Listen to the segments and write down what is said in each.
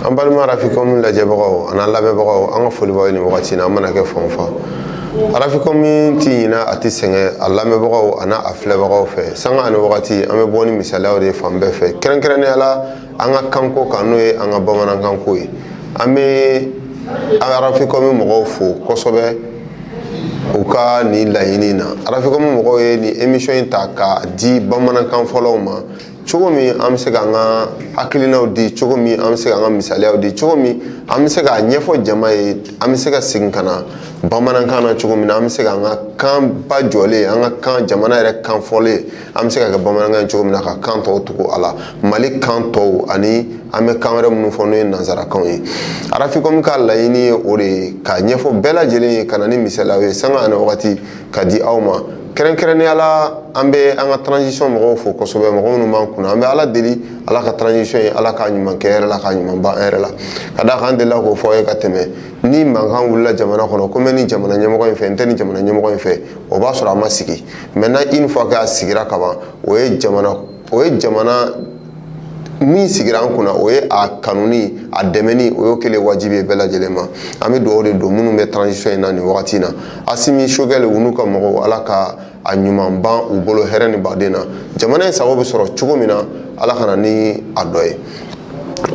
an balima arafikɔmi lajɛbagaw an'a lamɛnbagaw an ka foli b'aw ye nin wagati in na an mana kɛ fan o fan arafikɔmi tɛ ɲina a tɛ sɛgɛn a lamɛnbagaw an'a filɛbagaw fɛ sanga ani wagati an bɛ bɔ ni misaliyaw de ye fan bɛɛ fɛ kɛrɛnkɛrɛnnenya la an ka kanko kan n'o ye an ka bamanankanko ye an bɛ arafikɔmi mɔgɔw fo kosɛbɛ u ka nin laɲini na arafikɔmi mɔgɔw ye nin emisɔn in ta ka di bamanankan fɔlaw ma cogo min an bɛ se k'an ka hakilinaw di cogo min an bɛ se k'an ka misaliyaw di cogo min an bɛ se k'a ɲɛfɔ jama ye an bɛ se ka segin ka na bamanankan na cogo min na an bɛ se k'an ka kan ba jɔlen an ka kan jamana yɛrɛ kan fɔlen an bɛ se ka kɛ bamanankan ye cogo min na ka kan tɔw tugu a la mali kan tɔw ani an bɛ kan wɛrɛ minnu fɔ n'o ye nanzarakanw ye arafikɔmi ka laɲini ye o de ye ka ɲɛfɔ bɛɛ lajɛlen ye ka na ni misaliyaw ye sanga ani wagati ka di aw ma kɛrɛnkɛrɛnnenya la an bɛ an ka transition mɔgɔw fo kosɛbɛ mɔgɔ minnu b'an kunna an bɛ ala deli ala ka transition in ala k'a ɲuman kɛ hɛrɛ la k'a ɲuman ban hɛrɛ la ka d'a kan an delila k'o fɔ aw ye ka tɛmɛ ni mankan wulila jamana kɔnɔ ko n bɛ nin jamana ɲɛmɔgɔ in fɛ n tɛ nin jamana ɲɛmɔgɔ in fɛ o b'a sɔrɔ a ma sigi maintenant une fois k'a sigira kaban o ye jamana o ye jamana min sigira an kunna o ye a kanuni a dɛmɛni o y'o kɛlen wajibi ye bɛɛ lajɛlen ma an bɛ dugawu de don minnu bɛ transition in na nin wagati in na asimi sogɛli u n'u ka mɔgɔw ala ka a ɲuman ban u bolo hɛrɛ ni baden na jamana in sago bɛ sɔrɔ cogo min na ala ka na ni a dɔ ye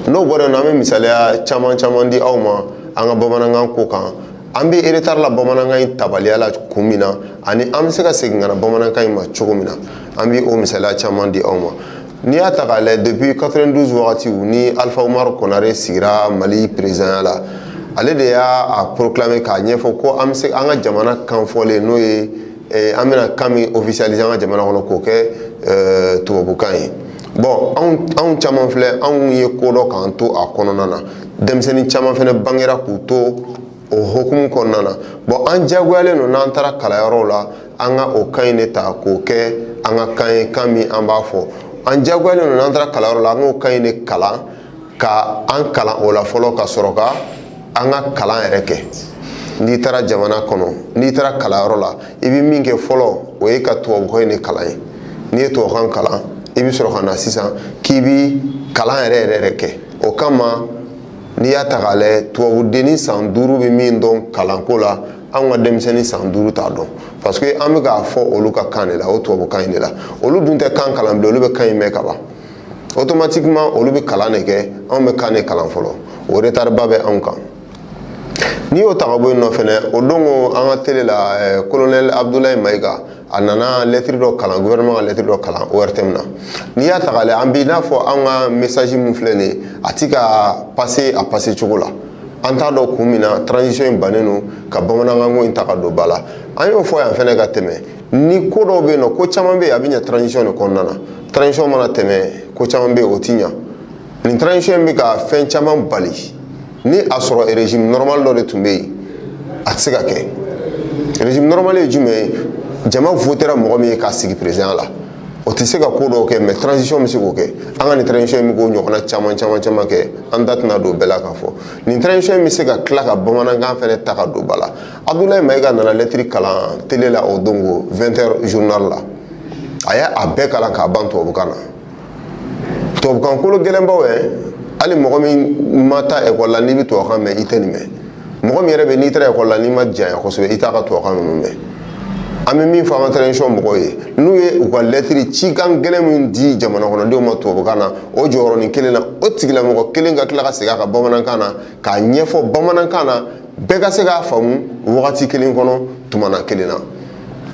n'o bɔra yen nɔ an bɛ misaliya caman caman di aw ma an ka bamanankan ko kan an bɛ retard la bamanankan in tabaliya la kun min na ani an bɛ se ka segin ka na bamanankan in ma cogo min na an bɛ o misaliya caman di aw ma n'i y'a ta k'a lajɛ depuis 92 wagatiw ni alifa umaru konare sigira mali peresidanya la ale de y'a proclamer k'a ɲɛfɔ ko an bɛ se an ka jamana kan fɔlen n'o ye an bɛna kan min officialiser an ka jamana kɔnɔ k'o kɛ tubabukan ye bon anw caman filɛ anw ye ko dɔn k'an to a kɔnɔna na denmisɛnnin caman fana bangera k'u to o hukumu kɔnɔna na bon an diyagoyalen don n'an taara kalanyɔrɔw la an ka o kan in de ta k'o kɛ an ka kan ye kan min an b'a fɔ an diyagoyalen don n'an taara kalanyɔrɔ la an k'o kan in de kalan ka an kalan o la fɔlɔ ka sɔrɔ ka an ka kalan yɛrɛ kɛ n'i taara jamana kɔnɔ n'i taara kalanyɔrɔ la i bɛ min kɛ fɔlɔ o ye ka tubabukan in de kalan ye n'i ye tubabukan kalan i bɛ sɔrɔ ka na sisan k'i bɛ kalan yɛrɛ yɛrɛ yɛrɛ kɛ o kama n'i y'a ta k'a lajɛ tubabudennin san duuru bɛ min dɔn kalanko la anw ka denmisɛnnin san duuru t'a dɔn parce que an bɛ k'a fɔ olu ka kan de la o tubabukan in de la olu dun tɛ kan kalan bilen olu bɛ kan in mɛn ka ban automatiquement olu bɛ kalan de kɛ anw bɛ kan de kalan fɔlɔ o retard ba bɛ anw kan n'i y'o ta ka bɔ yen nɔ fɛnɛ o don ko an ka tele la eh, colonel abdoulaye mayiga a nana lɛtiri dɔ kalan gouvernement ka lɛtiri dɔ kalan ortm na n'i y'a ta k'a lajɛ an b'i n'a fɔ an ka message min filɛ nin ye a ti ka passer a passer cogo la an t'a dɔn kun min na transition in bannen don ka bamanankanko in ta ka don ba la an y'o fɔ yan fɛnɛ ka tɛmɛ ni ko dɔw bɛ yen nɔ ko caman bɛ yen a bɛ ɲɛ transition de kɔnɔna na transition mana tɛmɛ ko caman bɛ yen o ti ɲa nin transition in bɛ ka fɛn caman bali ni a sɔrɔ régime normal dɔ de tun bɛ yen a tɛ se ka kɛ régime normal ye jumɛn ye jama votera mɔgɔ min ye k'a sigi président la o tɛ se ka ko dɔw kɛ mais transition bɛ se k'o kɛ an ka nin transition in bɛ k'o ɲɔgɔnna caman caman caman kɛ an da tɛna don bɛɛ la k'a fɔ nin transition in bɛ se ka tila ka bamanankan fɛnɛ ta ka don ba la abudulayi mayiga nana lɛtiri kalan tele la o don ko 20h journal la a y'a bɛɛ kalan k'a ban tubabukan na tubabukan kolo gɛlɛnbaw ye hali mɔgɔ min ma taa ekɔli la n'i bɛ tubabukan mɛn i tɛ nin mɛn mɔgɔ min yɛrɛ bɛ n'i taara ekɔli la n'i ma janya kosɛbɛ i t'a ka tubabukan ninnu mɛn an bɛ min fɔ an ka taranzisɔn mɔgɔw ye n'u ye u ka lɛtiri cikan gɛlɛn min di jamana kɔnɔdenw ma tubabukan na o jɔyɔrɔnin kelen na o tigilamɔgɔ kelen ka tila ka segin a kan bamanankan na k'a ɲɛfɔ bamanankan na bɛɛ ka se k'a faamu wagati kelen kɔnɔ tumana kelen na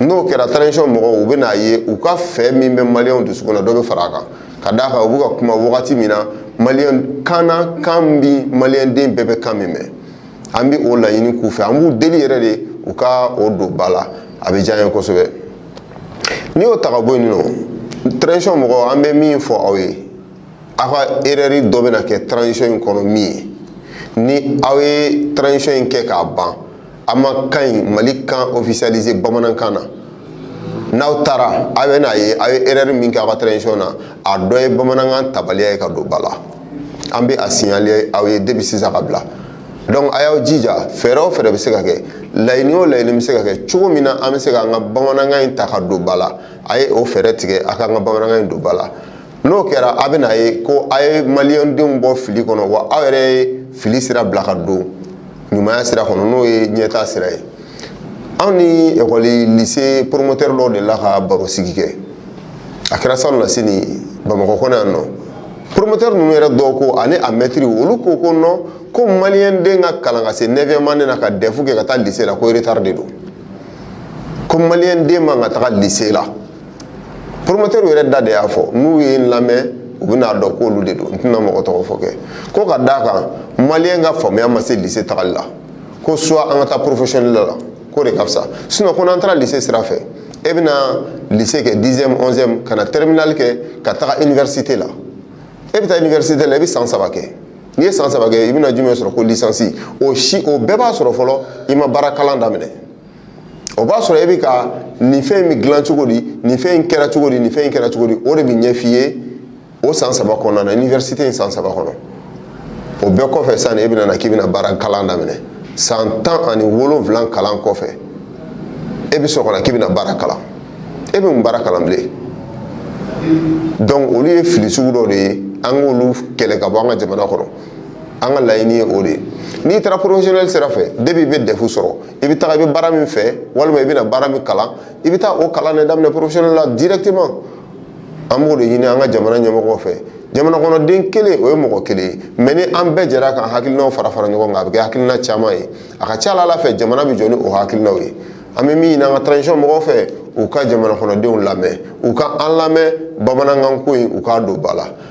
n'o kɛra taranzisɔn mɔgɔw u bɛ n'a ye u ka fɛ min bɛ maliyɛnw dusukun na dɔ bɛ fara a kan ka d'a kan u bɛ ka kuma wagati min na maliyɛn kan na kan bi maliyɛnden bɛɛ bɛ kan min mɛn an bɛ o laɲini k'u fɛ an b'u deli yɛrɛ de u ka o don ba la a bɛ diya n ye kosɛbɛ n'i y'o ta ka bɔ yen nɔ taranzisɔn mɔgɔw an bɛ min fɔ aw ye aw ka erɛri dɔ bɛna kɛ taranzisɔn in kɔnɔ min ye ni aw ye taranzisɔn in kɛ k'a ban aw ma kan in mali kan ofisiyalize bamanankan na n'aw taara aw bɛ n'a ye aw ye erɛri min kɛ aw ka taranzisɔn na a dɔ ye bamanankan tabaliya ye ka don ba la an bɛ a siɲale aw ye depi sisan ka bila donc a y'aw jija fɛɛrɛ o fɛɛrɛ bɛ se ka kɛ laɲini o laɲini bɛ se ka kɛ cogo min na an bɛ se k'an ka bamanankan in ta ka don ba la a ye o fɛɛrɛ tigɛ a k'an ka bamanankan in don ba la n'o kɛra a bɛna a ye ko a ye maliyɛndenw bɔ fili kɔnɔ wa aw yɛrɛ ye fili sira bila ka don ɲumanya sira kɔnɔ n'o ye ɲɛtaa sira ye anw ni ekɔli lise poromotɛri dɔw dela ka barosigi kɛ a kɛra salonnasini bamakɔ kɔnɔ yan nɔ poromotɛri ninnu yɛrɛ dɔw ko ani a mɛtiri olu ko ko nɔ ko maliyɛnden ka kalan ka se nɛviyɛmu ane na ka dɛfu kɛ ka taa lise la ko retari de don ko maliyɛnden man ka taga lise la poromotɛriw yɛrɛ da de y'a fɔ n'u ye n lamɛn u bɛna dɔn k'olu de don n tɛna mɔgɔ tɔgɔ fɔ kɛ ko ka d'a kan maliyɛn ka faamuya ma se lise tagali la ko soit an ka taa porofesiyɔnɛli la k'o de ka fisa sinɔn ko n'an taara lise sira fɛ e bɛna lise kɛ dixième onzième ka na terminali kɛ ka taga iniwɛrisite la e bɛ taa iniwɛrisite la i bɛ san saba kɛ n'i ye san saba kɛ i bɛna jumɛn sɔrɔ ko lisansi o bɛɛ b'a sɔrɔ fɔlɔ i ma baara kalan daminɛ o b'a sɔrɔ e bɛ ka nin fɛn in bɛ dilan cogo di nin fɛn in kɛra cogo di nin fɛn in kɛra cogo di o de bɛ ɲɛf'i ye o san saba kɔnɔna na iniwɛrisite in san saba kɔnɔ o bɛɛ kɔfɛ sisan e bɛna na k'i bɛna baara kalan daminɛ san tan ani wolonwula kalan kɔfɛ e bɛ sɔrɔ ka na k'i bɛna baara kalan e bɛ mun baara kalan bilen donc olu ye fili sugu dɔ de ye an k'olu kɛlɛ ka bɔ an ka jamana kɔnɔ an ka laɲini ye o de ye n'i taara porofesiyɔnɛli sira fɛ depi i bɛ dɛfu sɔrɔ i bɛ taga i bɛ baara min fɛ walima i bɛna baara min kalan i bɛ taa o kalan de daminɛ professionnel la directement an b'o de ɲini an ka jamana ɲɛmɔgɔw fɛ jamana kɔnɔden kelen o ye mɔgɔ kelen ye mɛ ni an bɛɛ jɛra k'an hakilinaw fara fara ɲɔgɔn kan a bɛ kɛ hakilina caman ye a ka ca a la fɛ jamana bɛ jɔ ni o hakilinaw ye an bɛ min ɲini an ka transition mɔgɔw fɛ u ka jamana kɔnɔdenw lamɛn u ka an lamɛn bamanankan ko in u k'a don ba la